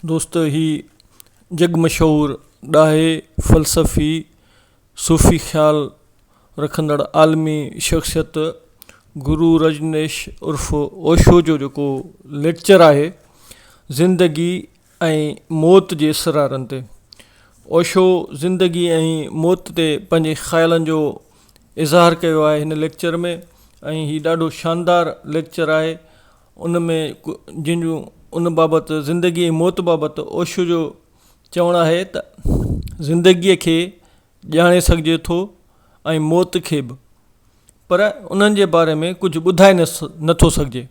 دوستو هي جڳ مشهور ڏاهي فلسفي صوفي خيال رکندڙ عالمي شخصيت گرو رجنيش عرف اوشو جو جيڪو ليڪچر آهي زندگي ۽ موت جي اسرارن تي اوشو زندگي ۽ موت تي پنهنجي خيالن جو اظهار ڪيو آهي هن ليڪچر ۾ ۽ هي ڏاڍو شاندار ليڪچر آهي ان ۾ جن جو ان بابت زندگي ۽ موت بابت اوشو جو چوڻ آهي ته زندگيء کي ڄاڻي سگهجي ٿو ۽ موت کي به پر انهن جي باري ۾ ڪجهه ٻڌائي نه نٿو سگهجي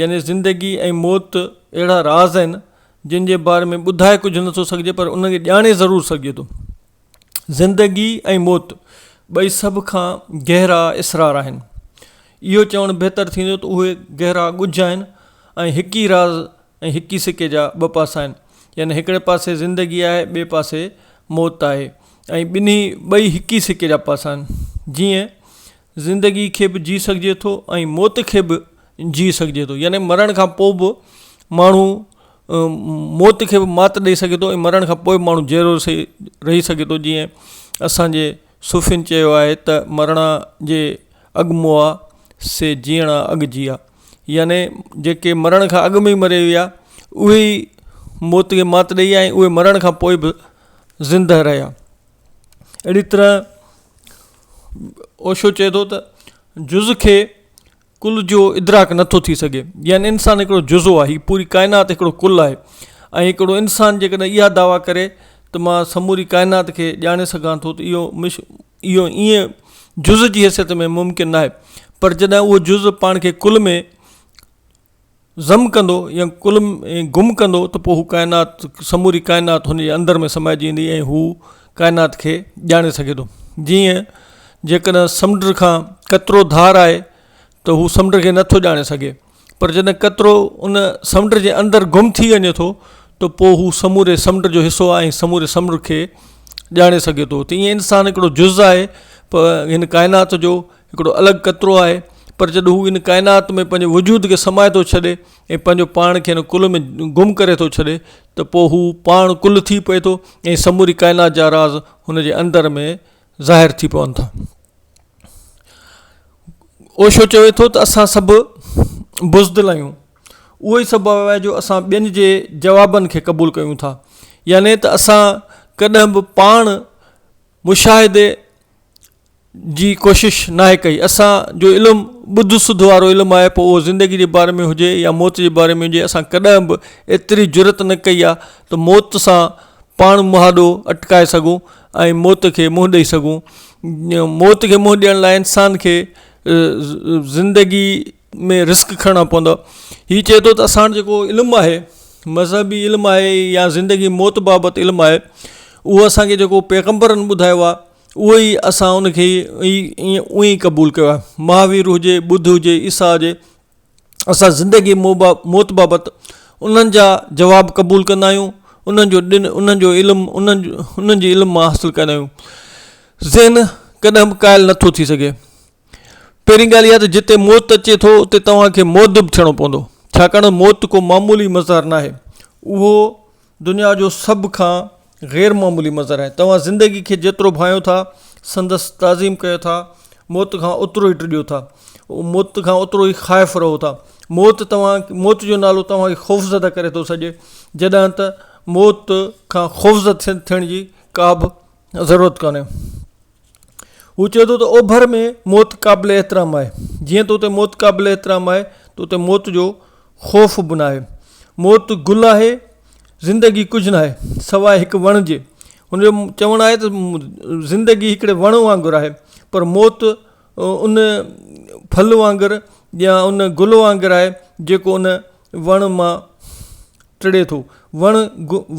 يعني زندگي ۽ موت اهڙا راز آهن جن جي باري ۾ ٻڌائي ڪجهه نٿو سگهجي پر ان کي ڄاڻي ضرور سگهجي ٿو زندگي ۽ موت ٻئي سڀ کان گهرا اسرار آهن اهو چوڻ بهتر ٿيندو ته اهي گهرا ڳجهه آهن ۽ هڪ ئي راز ۽ هڪ ئي سڪي جا ٻه پاسا آهن يعني هڪڙي پاسي زندگي آهي ٻئي پاسي موت آهي ۽ ٻنهي ٻئي هڪ ئي سڪي جا پاسا آهن جيئن زندگي کي به جي سگهجي ٿو ۽ موت کي به جي سگهجي ٿو يعني مرڻ کان پوء به ماڻهو موت کي به مات ڏئي سگهي ٿو ۽ مرڻ کان پوء به ماڻهو جيئرو رهي سگهي ٿو جيئن اسانجي صوفين چيو آهي ته مرڻا جي اڳ موآ سي جيئڻا اڳ جيئا يعني جيڪي مرڻ کان اڳ ۾ مري ويا اهي ئي موت کي مات ڏئي آيا اهي مرڻ کان پوء به زندهه رهيا اهڙي طرح اوشو چئي ٿو ته جز کي ڪل جو ادراڪ نه ٿو ٿي سگهي يعني انسان هڪڙو جزو آهي هي پوري ڪائنات هڪڙو ڪل آهي ۽ هڪڙو انسان جيڪڏهن اها دعويٰ ڪري ته مان سموري ڪائنات کي ڄاڻي سگهان ٿو ته اهو مش اهو ائين جز جي حيثيت ۾ ممڪن ناهي پر جڏهن اهو جز پاڻ کي ڪل ۾ ضم ڪندو يا ڪل ۾ گم ڪندو ته پوء هو ڪائنات سموري ڪائنات هن جي اندر ۾ سمائجي ويندي ۽ هو ڪائنات کي ڄاڻي سگهي ٿو جيئن جيڪڏهن سمنڊ کان قطرو ڌار آهي ته هو سمنڊ کي نٿو ڄاڻي سگهي پر جڏهن قطرو ان سمنڊ جي اندر گم ٿي وڃي ٿو ته پوء هو سموري سمنڊ جو حصو آهي ۽ سموري سمنڊ کي ڄاڻي سگهي ٿو ته ائين انسان هڪڙو جز آهي پر هن ڪائنات جو هڪڙو الڳ قطرو آهي، پر جڏهن هو ان ڪائنات ۾ پنهنجي وجود کي سمائي ٿو ڇڏي ۽ پنهنجو پاڻ کي ان ڪل ۾ گم ڪري ٿو ڇڏي ته پوء هو پاڻ ڪل ٿي پئي ٿو ۽ سموري ڪائنات جا راز هن جي اندر ۾ ظاهر ٿي پون ٿا. اوشو چوي ٿو ته اسان سڀ بزدل آهيون اهو ئي سبب آهي جو اسان ٻين جي جوابن کي قبول ڪيون ٿا يعني ته اسان ڪڏهن به پاڻ مشاهدي جي ڪوشش ناهي ڪئي. اسان جو علم ٻڌ سڌ وارو علم آهي پوء اهو زندگي جي باري ۾ هجي يا موت جي باري ۾ هجي اسان ڪڏهن به ايتري جرئت نه ڪئي آهي ته موت سان پاڻ مهاڏو اٽڪائي سگهون ۽ موت کي منهن ڏئي سگهون موت کي منهن ڏيڻ لاء انسان کي زندگي ۾ رسڪ کڻڻا پوندا هي چئي ٿو ته اسان وٽ جيڪو علم آهي مذهبي علم آهي يا زندگي موت بابت علم آهي اهو اسان کي جيڪو پيغمبرن ٻڌايو آهي اهو ئي اسان ان کي ايئن ئي قبول ڪيو آهي. مهاوير هجي، ٻڌ هجي، عيسيٰ هجي، اسان زندگي ۽ موت بابت انهن جا جواب قبول ڪندا آهيون، انهن جو ڏن، انهن جو علم، انهن جي علم مان حاصل ڪندا آهيون. ذهن ڪڏهن به ڪاهل نه ٿو ٿي سگهي. پهرين ڳالهه اها ته جتي موت اچي ٿو اتي توهان کي مؤدب ٿيڻو پوندو ڇاڪاڻ موت ڪو معمولي مظهر ناهي اهو دنيا جو سڀ کان غير معمولي مظهر آهي توهان زندگي کي جيترو ڀانئيو ٿا سندس تعظيم ڪيو ٿا موت کان اوترو ئي ڊڄو ٿا موت کان اوترو ئي خائف رهو ٿا موت توهان موت جو نالو توهان کي خوف زده ڪري ٿو سڄي جڏهن ته موت کان خوف زده ٿيڻ جي ڪابه ضرورت ڪانهي هو چئي ٿو ته اوڀر ۾ موت قابل احترام آهي جيئن ته اتي موت قابل احترام آهي ته اتي موت جو خوف به ناهي موت گل آهي زندگي ڪجهه ناهي سواء هڪ وڻ جي هن جو چوڻ آهي ته زندگي هڪڙي وڻ وانگر آهي پر موت ان ڦل وانگر يا ان گل وانگر آهي جيڪو ان وڻ مان ٽڙي ٿو وڻ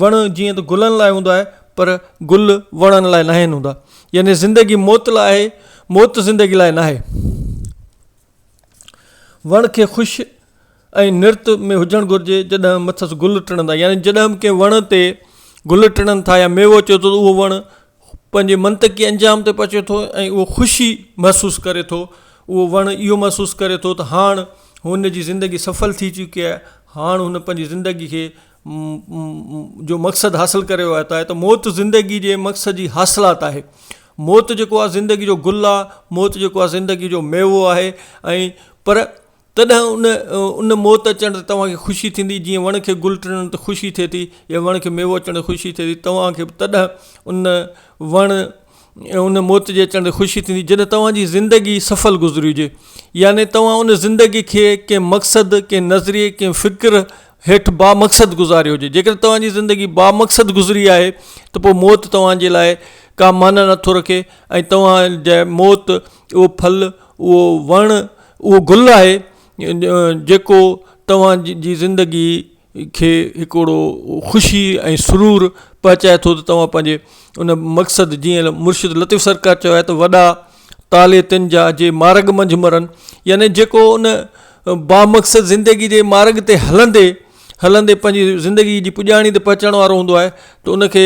وڻ جيئن ته گلن لاء هوندو آهي پر گل وڻن لاء ناهن هوندا يعني زندگي موت لاء آهي موت زندگي لاء ناهي وڻ کي خوش ۽ نرت ۾ هجڻ گهرجي جڏهن مٿس گل ٽڙندا يعني جڏهن ڪنهن وڻ تي گل ٽڙن ٿا يا ميوو اچي ٿو اهو وڻ هو پنهنجي منطقي انجام تي پهچي ٿو ۽ اهو خوشي محسوس ڪري ٿو. اهو وڻ اهو محسوس ڪري ٿو ته هاڻ هن جي زندگي سڦل ٿي چڪي آهي. هاڻ هن پنهنجي زندگي کي جو مقصد حاصل ڪري ويو آهي ته موت زندگي جي مقصد جي حاصلات آهي. موت جيڪو آهي زندگي جو گل آهي. موت جيڪو آهي زندگي جو ميوو آهي ۽ پر تڏهن ان ان موت اچڻ تي توهان کي خوشي ٿيندي، جيئن وڻ کي گل ٽڙڻ تي خوشي ٿئي ٿي، يا وڻ کي ميوو اچڻ تي خوشي ٿئي ٿي، توهان کي به تڏهن ان وڻ ان موت جي اچڻ تي خوشي ٿيندي، جڏهن توهان جي زندگي سڦل گذري هجي. يعني توهان ان زندگي کي ڪنهن مقصد، ڪنهن نظريي، ڪنهن فڪر هيٺ بامقصد گذاري هجي. جيڪڏهن توهان جي زندگي بامقصد گذري آهي ته پوء موت توهان جي لاء ڪا معنيٰ نٿو رکي ۽ توهان جي موت اهو ڦل، اهو وڻ، اهو گل آهي جيڪو توهان جي زندگي کي هڪڙو خوشي ۽ سرور پهچائي ٿو ته توهان پنهنجي ان مقصد جيئن مرشد لطيف سرڪار چيو آهي ته وڏا تالي تن جا جي مارگ منجهه مرن يعني جيڪو ان با مقصد زندگي جي مارگ تي هلندي هلندي پنهنجي زندگي جي پڄاڻي تي پهچڻ وارو هوندو آهي ته ان کي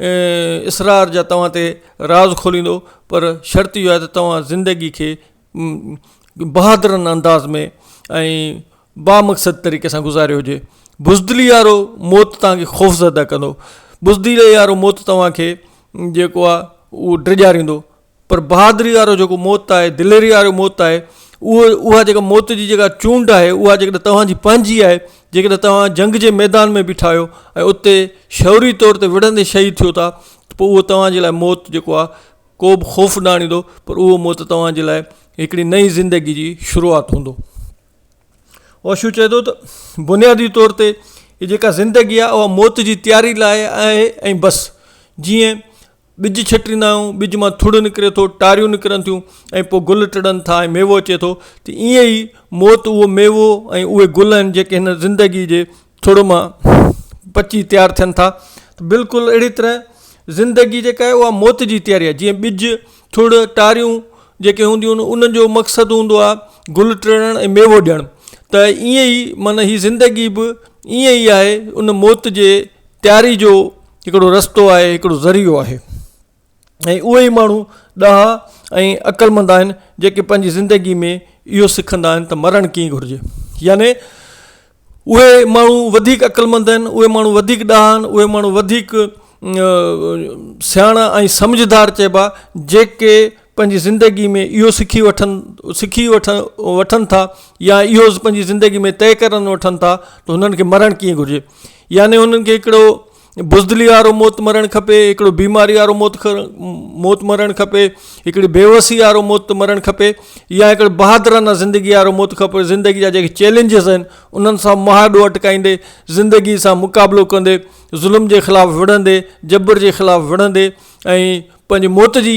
اسرار جا توهان تي راز کوليندو پر شرط اهو آهي ته توهان زندگي کي بهادرانه انداز ۾ ۽ بامقصد طريقي سان گذاريو هجي بزدلي وارو موت توهان کي خوفزده ڪندو بزدلي وارو موت توهان کي جيڪو آهي اهو ڊيڄاريندو پر بهادري وارو جيڪو موت آهي، دليري وارو موت آهي، اهو اها جيڪا موت جي جيڪا چونڊ آهي، اها جيڪڏهن توهان جي پنهنجي آهي، جيڪڏهن توهان جنگ جي ميدان ۾ بيٺا آهيو ۽ اتي شعوري طور تي وڙهندي شهيد ٿيو ٿا ته پوء اهو توهان جي لاء موت جيڪو آهي، ڪو به خوف نه آڻيندو، پر اهو موت توهان جي لاء هڪڙي نئين زندگي جي شروعات هوندو. اوشو چئي ٿو ته بنيادي طور تي هي جيڪا زندگي آهي، اها موت جي تياري لاء آهي ۽ بس. جيئن ٻج ڇٽيندا آهيون ٻج مان ٿڙ نڪري ٿو ٽاريون نڪرن ٿيون ۽ پوء گل ٽڙن ٿا ۽ ميوو اچي ٿو ته ائين ئي موت اهو ميوو ۽ اهي گل آهن جيڪي هن زندگي جي ٿڙ مان پچي تيار ٿين ٿا ته بلڪل اهڙي طرح زندگي جيڪا آهي اها موت جي تياري آهي جيئن ٻج ٿڙ ٽاريون جيڪي هونديون آهن انهن جو مقصد هوندو آهي گل ٽڙڻ ۽ ميوو ڏيڻ ته ائين ئي معنيٰ هي زندگي به ائين ئي آهي ان موت جي تياري جو هڪڙو رستو آهي هڪڙو ذريعو آهي ۽ اهي ئي ماڻهو ڏاها ۽ عقلمند آهن جيڪي پنهنجي زندگي ۾ اهو سکندا آهن ته مرڻ ڪيئن گهرجي يعني اهي ماڻهو وڌيڪ عقلمند آهن اهي ماڻهو وڌيڪ ڏاها آهن اهي ماڻهو وڌيڪ سياڻا ۽ سمجهدار چئبا جيڪي پنهنجي زندگي ۾ اهو سکي وٺن سکي وٺن وٺن ٿا يا اهو پنهنجي زندگي ۾ طئي ڪرن وٺن ٿا ته هنن کي مرڻ ڪيئن گهرجي يعني هنن کي هڪڙو بزدلي وارو موت مرڻ کپي هڪڙو بيماري وارو موت موت مرڻ کپي هڪڙي بيوسي وارو موت مرڻ کپي يا هڪڙو بهادرانه زندگي وارو موت کپي زندگي جا جيڪي چئلينجز آهن انهن سان مهاڏو اٽڪائيندي زندگي سان مقابلو ڪندي ظلم جي خلاف وڙهندي جبر جي خلاف وڙهندي ۽ پنهنجي موت جي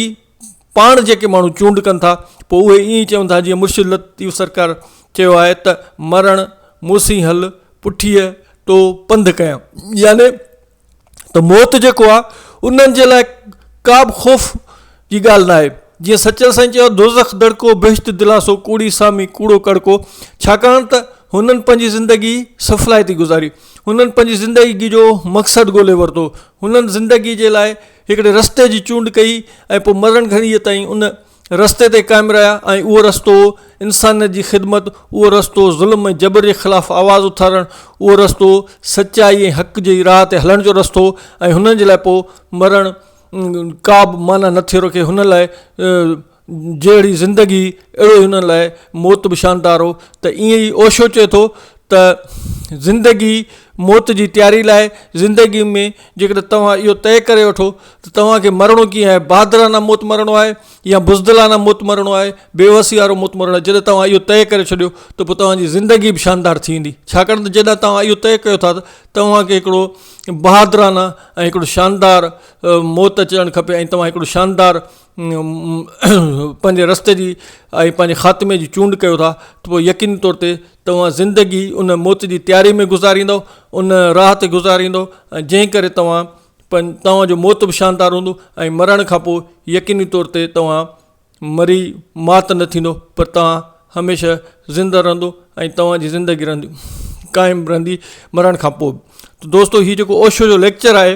پاڻ جيڪي ماڻهو چونڊ ڪن ٿا پوء اهي ائين ئي چون ٿا جيئن مرشد لطيف سرڪار چيو آهي ته مرڻ مون سين هل پٺيء ٽو پنڌ ڪيان يعني ته موت جيڪو آهي انهن جي لاء ڪا به خوف جي ڳالهه نه آهي جيئن سچل سائين چيو آهي دوزخ دڙڪو بهشت دلاسو ڪوڙي سامي ڪوڙو ڪڙڪو ڇاڪاڻ ته هنن پنهنجي زندگي سڦلائتي گذاري هنن پنهنجي زندگي جو مقصد ڳولي ورتو هنن زندگي جي لاء هڪڙي رستي جي چونڊ ڪئي ۽ پوء مرڻ گهڙيء تائين ان رستي تي قائم رهيا ۽ اهو رستو هو انسانيت جي خدمت، اهو رستو هو ظلم ۽ جبر جي خلاف آواز اٿارڻ، اهو رستو هو سچائي ۽ حق جي راهه تي هلڻ جو رستو ۽ هنن جي لاء پوء مرڻ ڪابه معنيٰ نه ٿي رکي، هنن لاء جهڙي زندگي اهڙو ئي انهن لاء موت به شاندار هو ته ائين ئي اوشو چئي ٿو ته زندگي موت جي تياري لاء زندگي ۾ جيڪڏهن توهان اهو طئي ڪري وٺو ته توهان کي مرڻو ڪيئن آهي بهادرانه موت مرڻو آهي يا بزدلانه موت مرڻو آهي بيوسي وارو موت مرڻو آهي جڏهن توهان اهو طئي ڪري ڇڏيو ته پوء توهان جي زندگي به شاندار ٿي ويندي ڇاڪاڻ ته جڏهن توهان اهو طئي ڪيو ٿا ته توهان کي هڪڙو بهادرانه ۽ هڪڙو شاندار موت اچڻ کپي ۽ توهان هڪڙو شاندار پنهنجي رستي جي ۽ پنهنجي خاتمي جي چونڊ ڪيو ٿا ته پوء يقيني طور تي توهان زندگي ان موت جي تياري ۾ گذاريندؤ ان راهه تي گذاريندؤ ۽ جنهن ڪري توهان پن توهان جو موت به شاندار هوندو ۽ مرڻ کان پوء يقيني طور تي توهان مري مات نه ٿيندو پر توهان هميشه زندهه رهندو ۽ توهان جي زندگي رهندي قائم رهندي مرڻ کان پوء به دوستو هي جيڪو اوشو جو ليڪچر آهي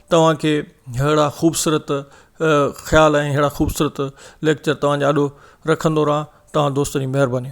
توهان کي ههڙا خوبصورت خيال ۽ ههڙا خوبصورت ليڪچر توهان جا آڏو رکندو رهان توهان دوستن جي مهرباني